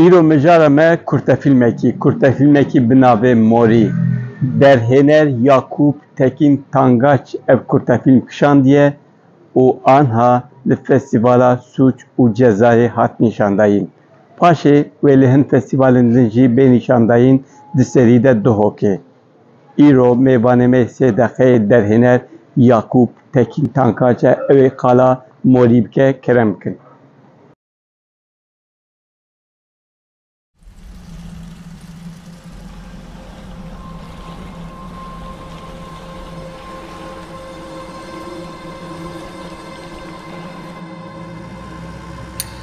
Îro mijara me kurtefîlmekî, kurtefîlmekî bi navê Morî, derhêner Yakûp Tekîn Tangaç ev kurtefîlm kişandiye û anha li Festîvala Sûc û Cezayê hat nîşandayîn. Paşê wê li hin festîvalên din jî bê nîşandayîn di serî de Duhokê. Îro mêvanê me sê deqeyê derhêner Yakûp Tekîn Tankaç e, ew ê qala morî bike kerem bikin.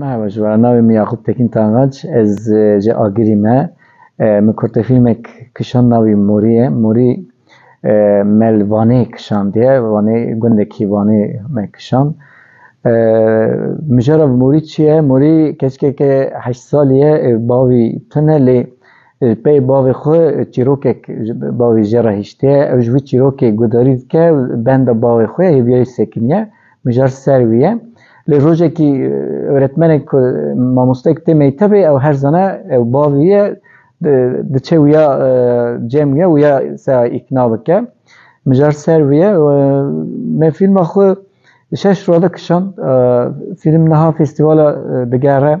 Merhaba ji were navê min Yaqûb Tekîn Tangaç ez ji Agirî me. Min kurtefîlmek kişand navî Morî ye. Morî mel Vanê kişandiye. Vanê gundekî Vanê me kişand. Mijara Morî çi ye? Morî keçikeke heşt salî ye bavî tune lê pey bavê xwe çîrokek bavê jê re hiştiye ew ji wî çîrokê guhdarî dike benda bavê xwe hêviyayî sekiniye. Mijar ser wî ye. Lê rojekî öğretmenek ku mamostek tê mektebê ew her zana ew bavî ye diçe wîya cem wîya wîya seya îkna bike. Mijar ser wî ye me fîlma xwe şeş rode kişand. Fîlm niha festîvala digere.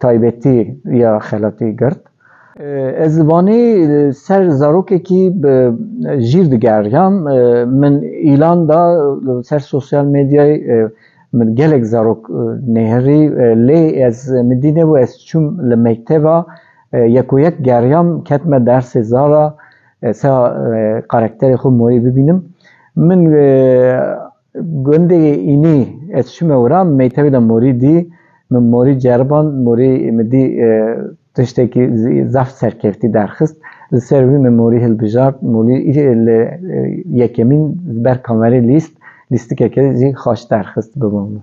taybetî ya xelatî girt. Ez li Wanê ser zarokekî bi jîr digeriyam. Min îlan da li ser sosyal medyayê min gelek zarok nêhirî lê ez min dî nebû ez çûm li mekteba yekoyek geriyam ketime dersê zara sa karakterê xwe morî bibînim. Min Gundê Înî ez çûme wira meytevê de morî dî, min morî ceriband, morî min dî tiştekî zaf serkeftî derxist, li ser wî min morî hilbijart, morî li yekemîn li ber kamerê lîst, lîstikeke jî xaç derxist bi bo min.